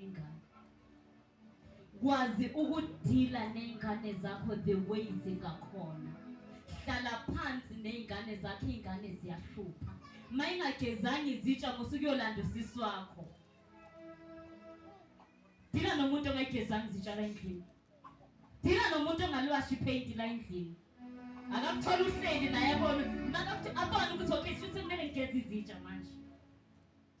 ingane kwazi ukudila ney'ngane zakho the way zingakhona hlala phansi ney'ngane zakho iy'ngane ziyahlupha ma ingagezanga izitsha musuke uyolanda usisi wakho dila nomuntu ongayigezanga izitsha la endlini dila nomuntu ongalwashi ipheyinti la endlini akakutholi uhleli naye abone abone ukuthi okay shuthi kumele ngigeze izitsha manje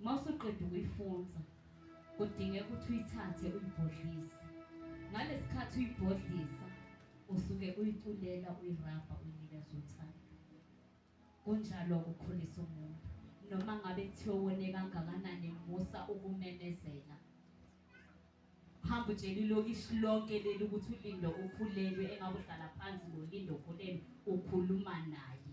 Uma usuqeda ukuyifunza, kudingeka ukuthi uyithathe uyibhodlise. Ngalesi khathi uyibhodlisa, usuke uyiculela uyirabha uyinikeza uthando. Kunjalo ukukhulisa umuntu. Noma ngabe kuthiwa wone kangakanani musa ukumemezela. Hamba utshela ilokishi lonke leli ukuthi uLindo ukhulelwe engabe uhlala phansi noLindo ukhulelwe ukhuluma naye.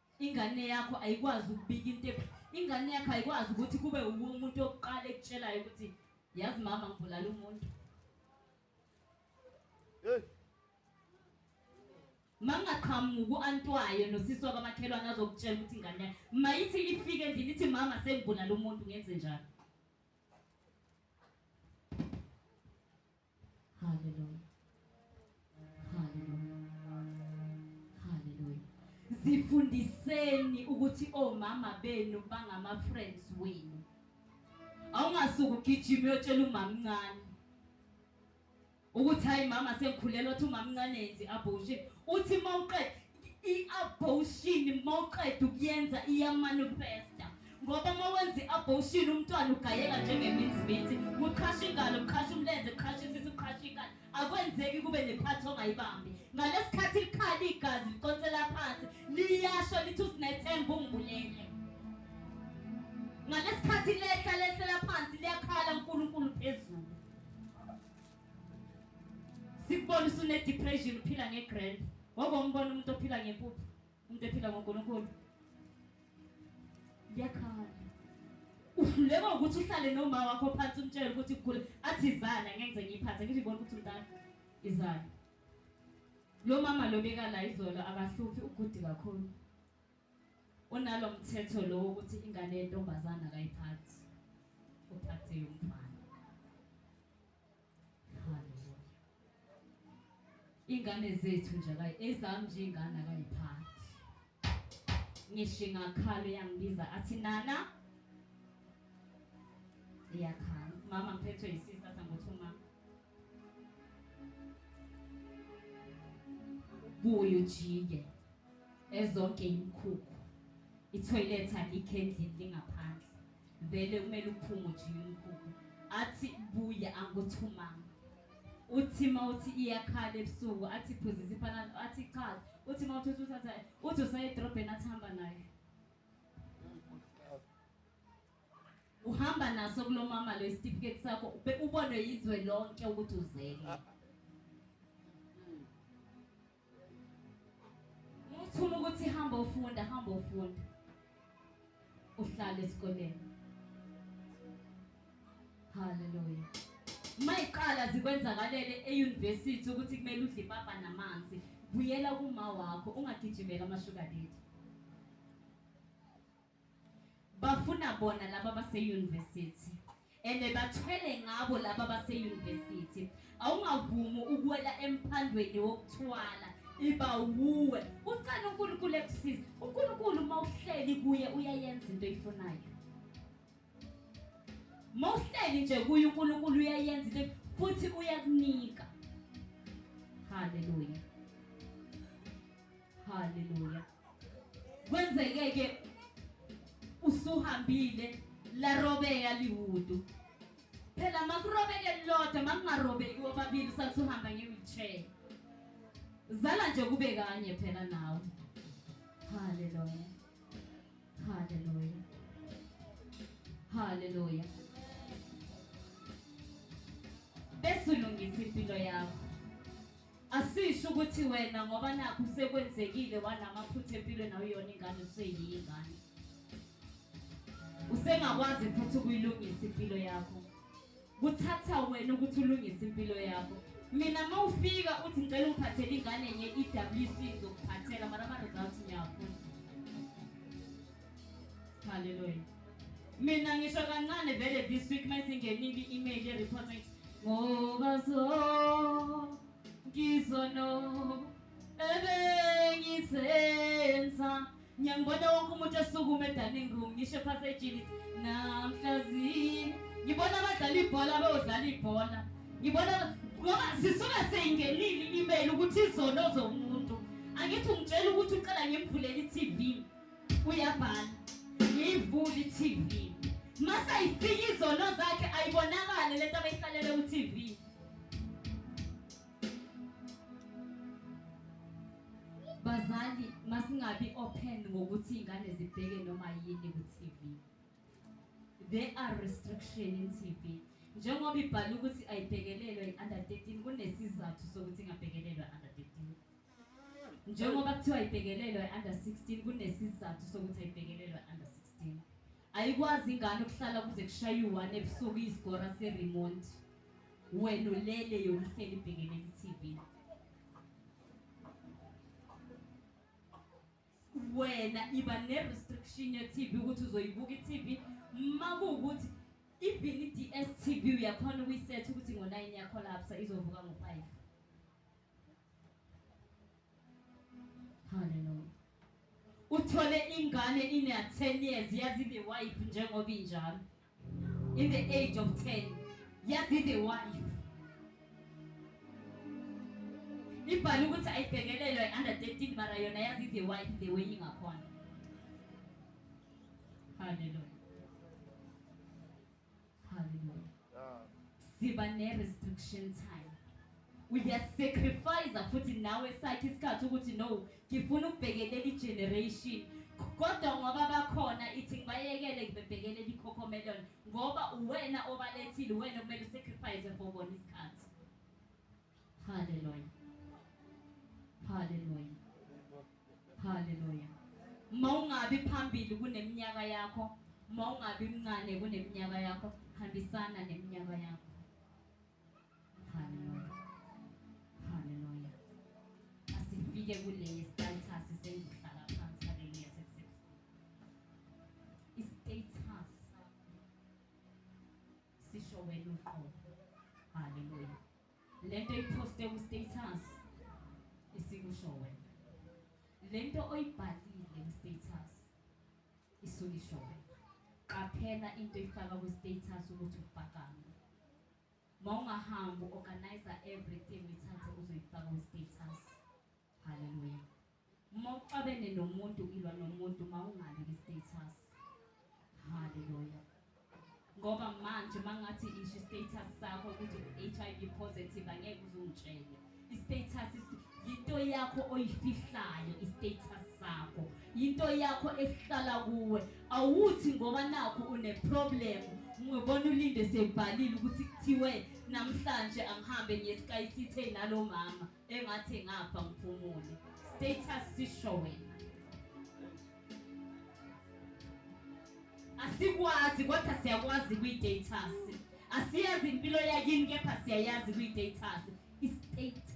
Ingane yakho ayikwazi ukubika into ephi. Ingane yakho ayikwazi ukuthi kube uwe umuntu wokuqala ekutshelayo ukuthi yazi mama ngibulala umuntu. Hey. Mangaqhamuki uantwayo nosisi wakamakhelwane azokutshela ukuthi ingane yakhe mayithi ifike endlini ithi mama sengibulala umuntu ngenze njani. Haleluya. Haleluya. Haleluya. Zifundiseni ukuthi omama benu bangama friends wenu. Awungasuku ugijima uyotshela umamncane ukuthi hayi mama sengikhulelwa uthi umamncane yenzi abortion uthi mawuqede I-abortion mawuqeda ukuyenza iyamanifesta ngoba uma wenza i-abortion umntwana ugayeka njengeminziminzi kuqhasha ingalo kuqhasha umlenze kuqhasha isisu kuqhasha ingalo akwenzeki kube nephathi ongayibambi ngalesi khathi likhala igazi liconsela phansi liyasho lithi usinethemba ungibulele ngalesi khathi lehla lehlela phansi liyakhala unkulunkulu phezulu Sikubona usune depression uphila nge grand. Wake umbona umuntu ophila ngempuphu, umuntu ephila ngoNkulunkulu. Liyakhala. Uhluleka ukuthi uhlale nomama wakho phansi umtshele ukuthi kugula athi izana ngeke ngiyiphathe ngithi ibona ukuthi umntana izana. Lo mama lo bekala izolo akahluphi ugudi kakhulu. Unalo mthetho lo wokuthi ingane yentombazana akayiphathi. Uphathe yomfana. Haleluya. Ingane zethu nje akayi ezami nje ingane akayiphathi. Ngisho ingakhala iyangibiza athi nana iyakhala. Mama ngiphethwe yisisi athi angothi uma buye ujike ezonke imikhukhu ithoyilethi alikho endlini lingaphandle vele kumele uphume ujike umkhukhu athi buya anguthumanga uthi ma uthi iyakhala ebusuku athi phuzisa ipanado athi cha uthi ma uthi uthatha uthi usayedrobheni athi hamba nayo uhamba naso kulomama lo isitifiketi sakho ube ubonwe yizwe lonke ukuthi uzele ah. muthuma ukuthi hamba ufunda hamba ufunda uhlala esikoleni haleluya mayiqala zikwenzakalele euniversity ukuthi kumele udle ipapa namanzi buyela kuma wakho ungagijimela amashukadeti Bafuna bona laba base university and bathwele ngabo laba base university. Awungavumi ukwela emphandweni wokuthwala iba wuwe. Ucela uNkulunkulu ekusiza. uNkulunkulu uma uhleli kuye uyayenza into oyifunayo. Uma uhleli nje kuye uNkulunkulu uyayenza into futhi uyakunika. Hallelujah. Hallelujah. Kwenzeke ke usuhambile larobeka liwudu. Phela makurobeke lodwa makungarobeki wobabili usathi uhamba nge-wheelchair. Zala nje kube kanye phela nawe. Haleluya. Haleluya. Haleluya. Besulungisa impilo yakho. Asisho ukuthi wena ngoba nakhu sekwenzekile wanamaphutha empilweni awuyona ingane useyiyingane. Usengakwazi futhi ukuyilungisa impilo yakho. Kuthatha wena ukuthi ulungise impilo yakho. Mina uma ufika uthi ngicela ungiphathele ingane nye i-WC ngizokuphathela mara ama-results ngiyafuna. Hallelujah. Mina ngisho kancane vele this week mayisingenile i-email ye-report ngithi ngoba so ngizono ebengisenza ngiyangibona wonke umuntu esukume edaning room ngisho ephasejini namhlazini ngibona abadlala ibhola beyodlala ibhola ngibona ngoba sisuke seyingenile i-email ukuthi izono zomuntu angithi ungitshela ukuthi uqala ngimvulele i-tv uyabhala ngiyivule i-TV mase ayifika izono zakhe ayibonakale lento abeyihlalele ku-TV bazali masingabi open ngokuthi ingane zibheke noma yini ku-TV there are restriction in TV njengoba ibhala ukuthi ayibhekelelwe i-under 13 kunesizathu sokuthi ingabhekelelwa under 13 Njengoba kuthiwa ibhekelelwa i-under 16 kunesizathu sokuthi ayibhekelelwa i-under 16. Ayikwazi ingane ukuhlala kuze kushaye u-1 ebusuku isigora se-remote. Wena ulele yona uhleli ibhekene ku-TV. Wena iba ne-restriction ye-TV ukuthi uzoyibuka i-TV uma kuwukuthi even i-DSTV uyakhona ukuyisetha ukuthi ngo-9 yakhona lapsa izovuka ngo-5. Hallelujah. Uthole ingane ine 10 years yazi the wife njengoba injalo. In the age of 10 yazi the wife. Ibhali ukuthi ayibhekelelwe under 13 mara yona yazi the wife the way ingakhona. Hallelujah. Hallelujah. Yeah. Siba ne restriction time. Uyasacrifice futhi nawe sakhe isikhathi ukuthi no, ngifuna ukubhekelela igeneration kodwa ngoba bakhona ithi ngibayekele ngibebhekelela ikhokhomelon ngoba uwena obalethile uwena okumele usacrifice for bona isikhathi Hallelujah. Hallelujah. Hallelujah. Mawungabi phambili kuneminyaka yakho, mawungabi mncane kuneminyaka yakho, hambisana neminyaka yakho. Hallelujah. Hallelujah. Asifike kule status sengihlala phansi hallelujah sekusebenza. Istatus Sisho wena uqobo. Haleluya. Lento iposte ku status isikusho wena. Lento oyibhalile ku status isulisho wena. Qaphela into ifaka ku status ukuthi ubhakame. Mawungahambi organize everything ithathe uzoyifaka ku status. Haleluya. Uma uxabene nomuntu ilwa nomuntu mawungabi kwi status. Hallelujah. Ngoba manje mangathi isho status sakho ukuthi u-HIV positive angeke uzungitshele. I-status yinto yakho oyifihlayo i-status sakho. Yinto yakho ehlala kuwe. Awuthi ngoba nakho une problem ngibona ulinde sebhalile ukuthi kuthiwe namhlanje angihambe ngiye eSky City nalomama. engathi ngapha ngiphumule status sisho wena asikwazi kodwa siyakwazi kwi-datas asiyazi impilo yakini kepha siyayazi kwi-datas i-status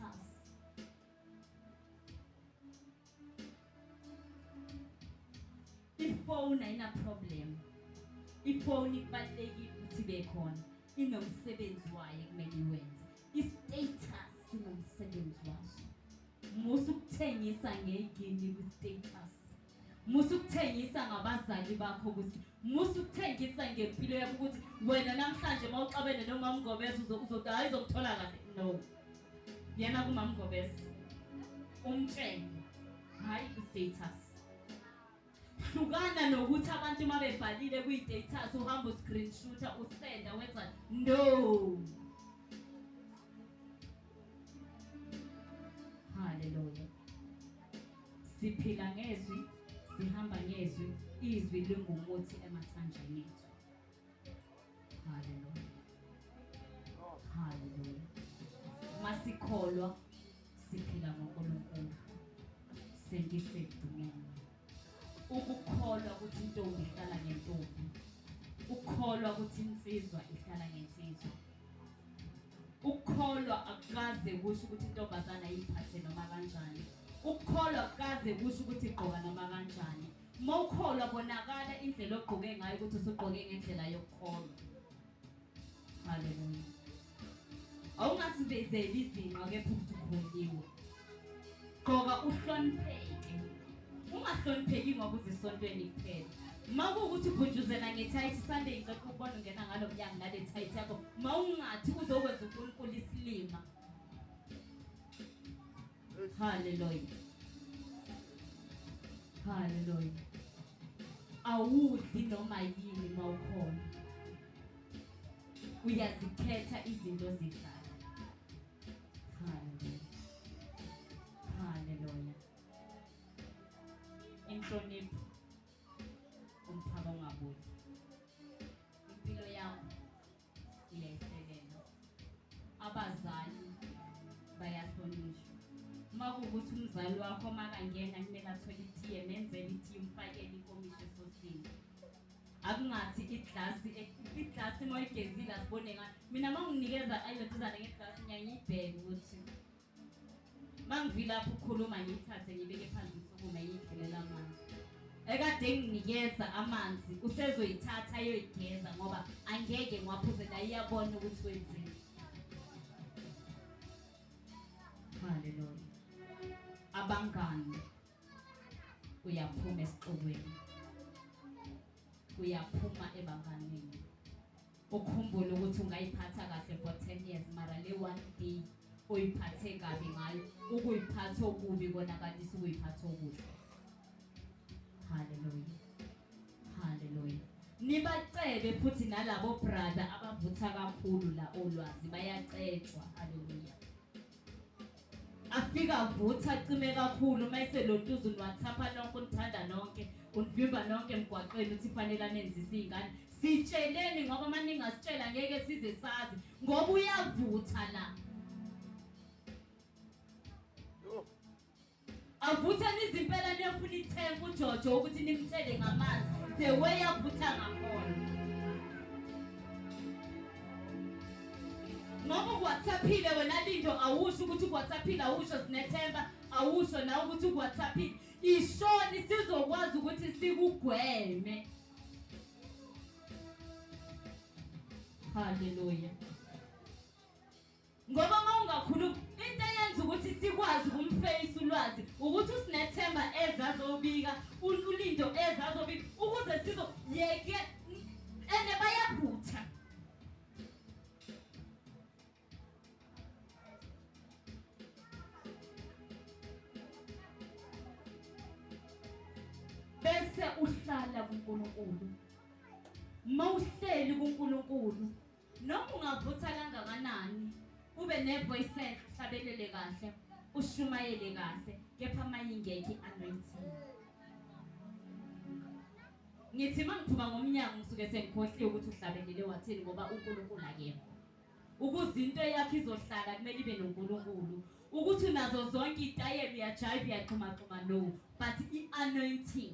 ifoni ayinaproblem ifoni kubalulekile ukuthi ibe khona inomsebenzi wayo ekumele iwenze I-status sinomsebenzi waso. Musa ukuthengisa ngegini kwi-status. Musa ukuthengisa ngabazali bakho ukuthi musa ukuthengisa ngempilo yakho ukuthi wena namhlanje uma uxabene nomama Ngobese uzothi hayi uzokuthola kahle. No. Yena kumama Ngobese. Umtshenge. Hayi i-status. Hlukana nokuthi abantu uma bebhalile kwi-datas uhamba uscreenshooter usenda wenza no haleluya siphila ngezwi sihamba ngezwi izwi lingumuthi emathanjeni ethu haleluya haleluya masikholwa Siphila ngoNkulunkulu. Sengisedumeni. Ukukholwa ukuthi intombi ihlala ngentombi. Ukukholwa ukuthi insizwa ihlala ngensizwa. Ukukholwa akukaze kusho ukuthi intombazana ayiphathe noma kanjani. Ukukholwa akukaze kusho ukuthi igqoka noma kanjani. Uma ukholwa bonakala indlela ogqoke ngayo ukuthi usugqoke ngendlela yokukholwa. Haleluya. Awungasindezeli izinqa kepha uzikhonyiwe. Gqoka uhlonipheke. Ungahlonipheki ngoba uzisontweni kuphela. Uma kuwukuthi ubhujuzela ngethayithi sande ngicela ukubona ungena ngalo mnyango nale thayithi yakho. Uma ungathi uzokwenza uNkulunkulu isilima. Hallelujah. Hallelujah. Awudli noma yini mawukhona. Uyazikhetha izinto zidlala. Hallelujah. Hallelujah. Inhlonipho umphako ngabuthi. Impilo yakho Ngiyayisekela. Abazali bayahlonishwa. Uma kuwukuthi umzali wakho makangena kumele athole itiye menzele itiye umfakele inkomishi esosini akungathi iglasi iglasi uma uyigezile asibone ngayo mina uma unginikeza ayoduzane ngeglasi ngiyangiyibheke ukuthi Mangivilapha ukukhuluma ngiyithathe ngibeke phansi isukume yidlulela amanzi. Ekade nginikeza amanzi usezoyithatha ayoyigeza ngoba angeke ngiwaphuze la iyabona ukuthi wenzeni. Haleluya. Abangani uyaphuma esixukwini. Uyaphuma ebanganini. ukhumbule ukuthi ungayiphatha kahle for 10 years mara le one day oyiphathe kabi ngayo ukuyiphatha okubi konakalisa ukuyiphatha okuhle haleluya haleluya nibacebe futhi nalabo brother abavutha kakhulu la olwazi bayacetshwa haleluya afike avutha acime kakhulu uma eselotuza uniwathapha nonke unithanda nonke univimba nonke emgwaqeni uthi fanele anenzise iy'ngane sitsheleni ngoba uma ningasitshela ngeke size sazi ngoba uyavutha la Avutha nizimpela niyofuna ithemba uJojo ukuthi nimthele ngamanzi the way avutha ngakhona. Ngoba ukwathaphile wena Lindo awusho ukuthi ukwathaphile awusho sinethemba awusho nawe ukuthi ukwathaphile. Ishoni sizokwazi ukuthi sikugweme. Hallelujah. Ngoba uma ungakhulumi into eyenza ukuthi sikwazi ukumfeyisa ulwazi ukuthi usinethemba ezazobika ulindo ezazobika ukuze sizo yeke ene bayaphutha bese uhlala kuNkulunkulu mawuhleli kuNkulunkulu Noma ungavutha kangakanani, ube ne-voice hlabelele kahle, ushumayele kahle, kepha mayingekho i-anointing. Ngithi uma ngiphuma ngomnyango ngisuke sengikhohliwe ukuthi uhlabelele wathini ngoba uNkulunkulu akekho. Ukuze into yakho izohlala kumele ibe noNkulunkulu. Ukuthi unazo zonke iy'tayela uyajayiva uyaxhumaxhuma no but i-anointing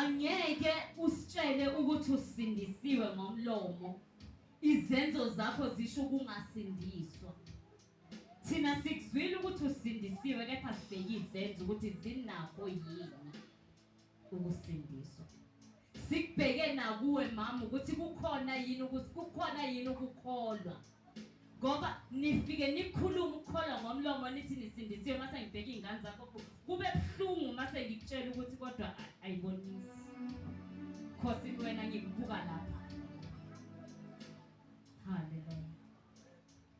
Angeke usitshele ukuthi usindisiwe ngomlomo. Izenzo zakho zisho ukungasindiswa. Thina sikuzwile ukuthi usindisiwe kepha sibheke izenzo ukuthi zinakho yini. ukusindiswa. Sikubheke nakuwe mama ukuthi kukhona yini ukuthi kukhona yini ukukholwa. Ngoba nifike nikhuluma ukukholwa ngomlomo nithi nisindisiwe mase ngibheka izingane zakho kube buhlungu mase ngikutshela ukuthi kodwa ayibonisi. Khosi wena ngikubuka lapha. Hallelujah.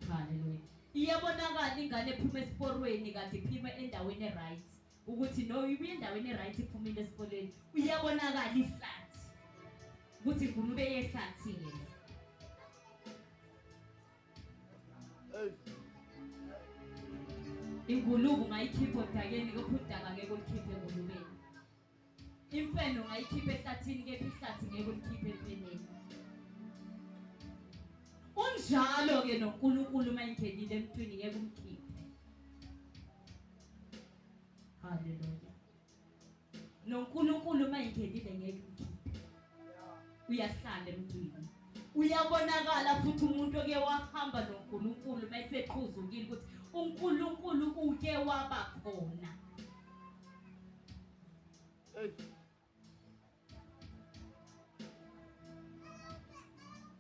Hallelujah. Iyabonakala ingane ephuma esiporweni kade iphima endaweni e-right. ukuthi no ubuye endaweni eright iphumile esikoleni uyabonakala iflat ukuthi ngunu beye flat yena ingulubu mayikhiphe odakeni kophudaba ngeke ulikhiphe engulubeni Imfene ungayikhipha ehlathini kepha ihlathi ngeke ulikhiphe emfeneni. Unjalo ke noNkulunkulu uma ingenile emntwini ngeke umkhiphe. Haleluya. NoNkulunkulu uma ingenile ngeke umkhiphe. Uyahlala emntwini. Uyabonakala futhi umuntu oke wahamba noNkulunkulu uma eseqhuzukile ukuthi uNkulunkulu uke waba khona.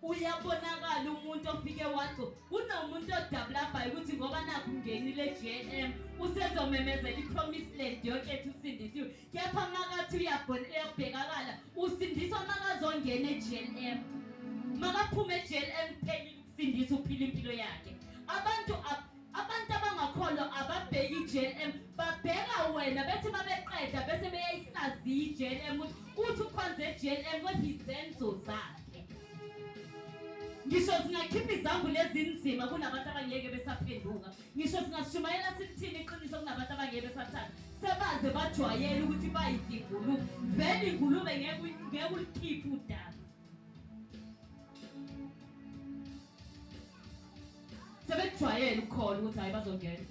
uyabonakala umuntu ofike wacho kunomuntu odabulabayo ukuthi ngoba nakho ungenile eGNM usezomemezela ipromise land yonke ethi usindisiwe kepha makathi uyabhekakala usindiswa makazongena eGNM makaphume eGNM kuphelile ukusindisa uphila impilo yakhe abantu Abantu abangakholwa ababheki i-JLM babheka wena bethi babeqeda bese beyayihlaziya i-JLM ukuthi uthi ukhonze i-JLM kodwa izenzo zakhe. Ngisho singakhipha izambulo ezinzima kunabantu abangeke besaphenduka. Ngisho singashumayela sithini iqiniso kunabantu abangeke besathanda. Sebaze bajwayele ukuthi bayizingulube. Vele ingulube ngeke ngeke ulikhiphe udaba. sebekujwayele ukukhona ukuthi hayi bazongena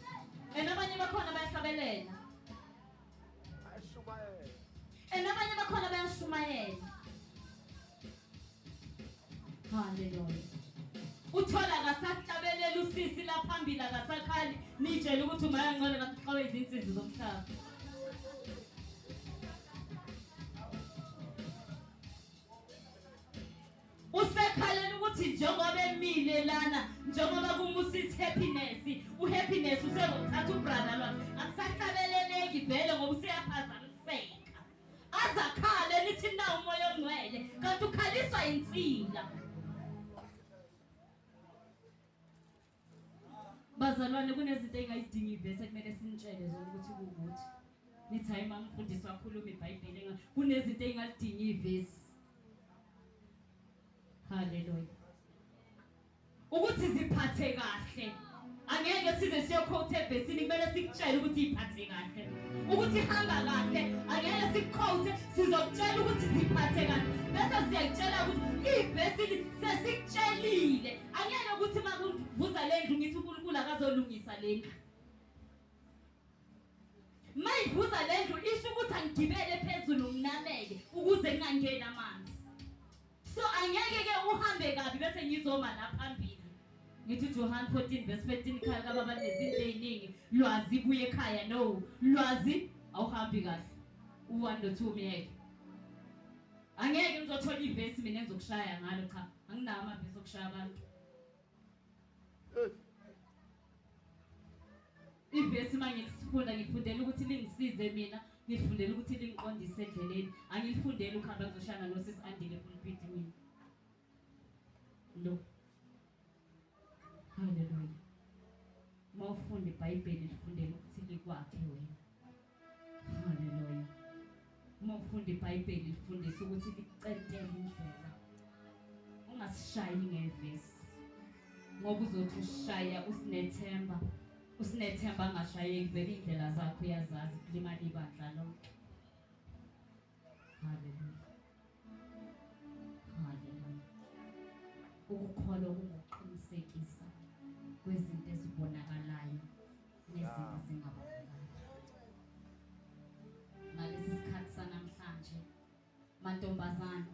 and abanye bakhona bayahlabelela and abanye bakhona bayashumayela haleluya uthola akasahlabelela usisi laphambili akasakhali nitshele ukuthi umayangcole ngathi uqawe izinsizi zomhlaba usekhalela ukuthi njengoba emile lana njengoba kumusithi happiness uhappiness usezothatha ubrother lwakhe akusahlabeleleki vele ngoba useyaphazamiseka azakhale nithi na umoya ongcwele kanti ukhaliswa yinsila Bazalwane kunezinto engayidingi ivese kumele sinitshele zona ukuthi kukuthi. Nithi hayi mama mfundisi wakhuluma iBhayibheli enga kunezinto engalidingi ivesi. Hallelujah. Ukuthi ziphathe kahle. Angeke size siyokhothe ebhesini kumele sikutshele ukuthi iphathe kahle. Ukuthi hamba kahle angeke sikukhothe sizokutshela ukuthi ziphathe kahle. Bese siyakutshela ukuthi ibhesini sesikutshelile Angiyena ukuthi uma kuvuza le ndlu ngithi uNkulunkulu akazolungisa le ndlu. Uma ivuza le ndlu isho ukuthi angigibele phezulu nginameke ukuze ngingangeni amanzi. So angeke ke uhambe kabi bese ngizoma la phambili. Ngithi Johan 14 verse 15 ikhaya kababa nezinto eziningi lwazi buye ekhaya no lwazi awuhambi kahle. U1 no 2 myeke. Angeke ngizothola ivesi mina engizokushaya ngalo cha. Anginawo amavesi okushaya abantu. Ivesi manje ngisifunda ngifundela ukuthi lingisize mina, ngifundela ukuthi lingiqondise endleleni. Angilifundeli ukuhamba ngizoshaya nosisi andile kulipiti mina. Lo. Hallelujah. Mawufunda iBhayibheli lifundele ukuthi likwakhe wena. Hallelujah. Uma ufunda iBhayibheli lifundise ukuthi licentele indlela. Ungasishayi ngevesi. Ngoba uzothi ushaya usinethemba. Usinethemba angashayeki vele indlela zakho uyazazi kulimala ibandla lonke. Haleluya. Haleluya. Ukukholwa kungukuqinisekisa kwezinto ezibonakalayo nezinto ezingabonakali. Ngalesi sikhathi sanamhlanje mantombazane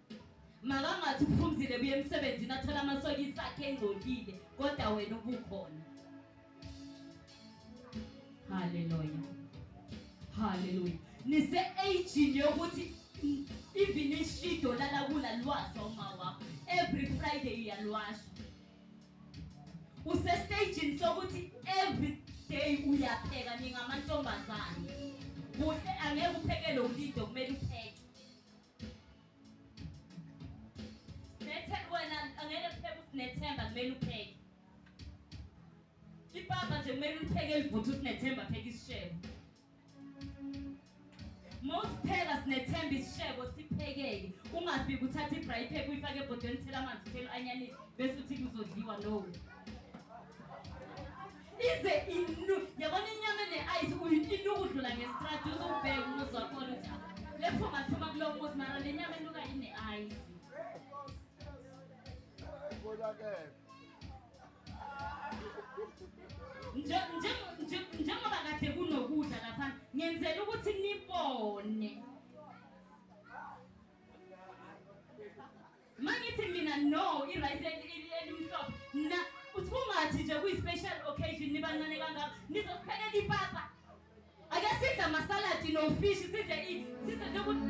Makangathi uphumzile buye emsebenzini athola amasokisi akhe engcolile kodwa wena ubukhona. Haleluya. Haleluya. Nise aging yokuthi even ishido lala kula lwasha uma wakho. Every Friday uyalwasha. Use staging sokuthi every day uyapheka ningamantombazane. Kuhle angeke uphekele ulido kumele upheke. Nethe wena angeke kupheke usinethemba kumele upheke. Ipapa nje kumele upheke elivutha usinethemba pheke isishebo. Mawusipheka sinethemba isishebo siphekeke. Ungafiki uthathe i-braai pack uyifake ebhodweni uthela amanzi uthela u-anyanisi bese uthi kuzodliwa no. ize inu yabona inyama ene-ayisi uyitini ukudlula ngestradi uzokubheka umuzi wakhona ukuthi lepho ngathuma kulo muzi mara le nyama enuka ine-ayisi njengoba kade kunokudla laphana ngenzela ukuthi nibone Mangithi mina no irice elimhlophe na uthi kungathi nje kuyi special occasion nibancane kangaka nizophekela ipapa. Ake sidle ama salad no fish sidle i sidle nje ukuthi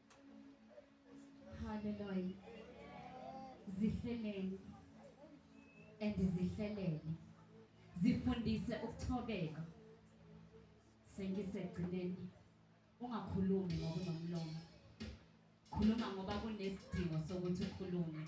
Hallelujah. Zihleleni and zihlelele. Zifundise ukuthobeka. Sengisegcineni. Ungakhulumi ngoba unomlomo. Khuluma ngoba kunesidingo sokuthi ukhulume.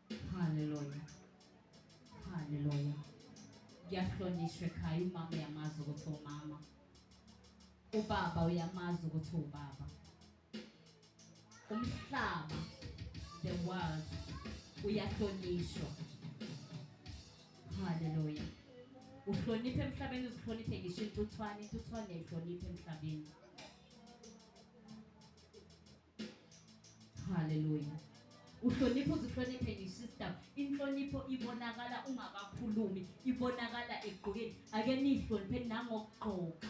Haleluya. Haleluya. Ngiyahlonishwa ekhaya umama uyamazi ukuthi umama. Ubaba uyamazi ukuthi ubaba. Umhlaba the world uyahlonishwa. Haleluya. Uhloniphe emhlabeni uzihloniphe ngisho intuthwane, intuthwane ihloniphe emhlabeni. Hallelujah. Uhlonipha uzihloniphe nje sister. Inhlonipho ibonakala ungakakhulumi, ibonakala egqokeni. Ake nihloniphe nangokugqoka.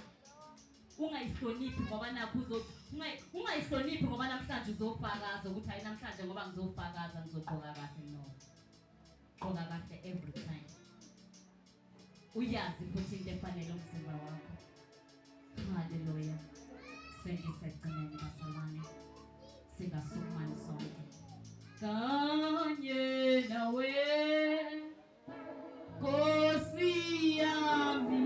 Ungayihloniphi ngoba nakho uzothi ungayihloniphi ngoba namhlanje uzofakaza ukuthi hayi namhlanje ngoba ngizofakaza ngizogqoka kahle no. Gqoka kahle every time. Uyazi futhi into efanele umzimba wakho. Haleluya. Sengisekugcineni basalwane. Singasukmani sonke. Kanye nawe. Nkosi yami.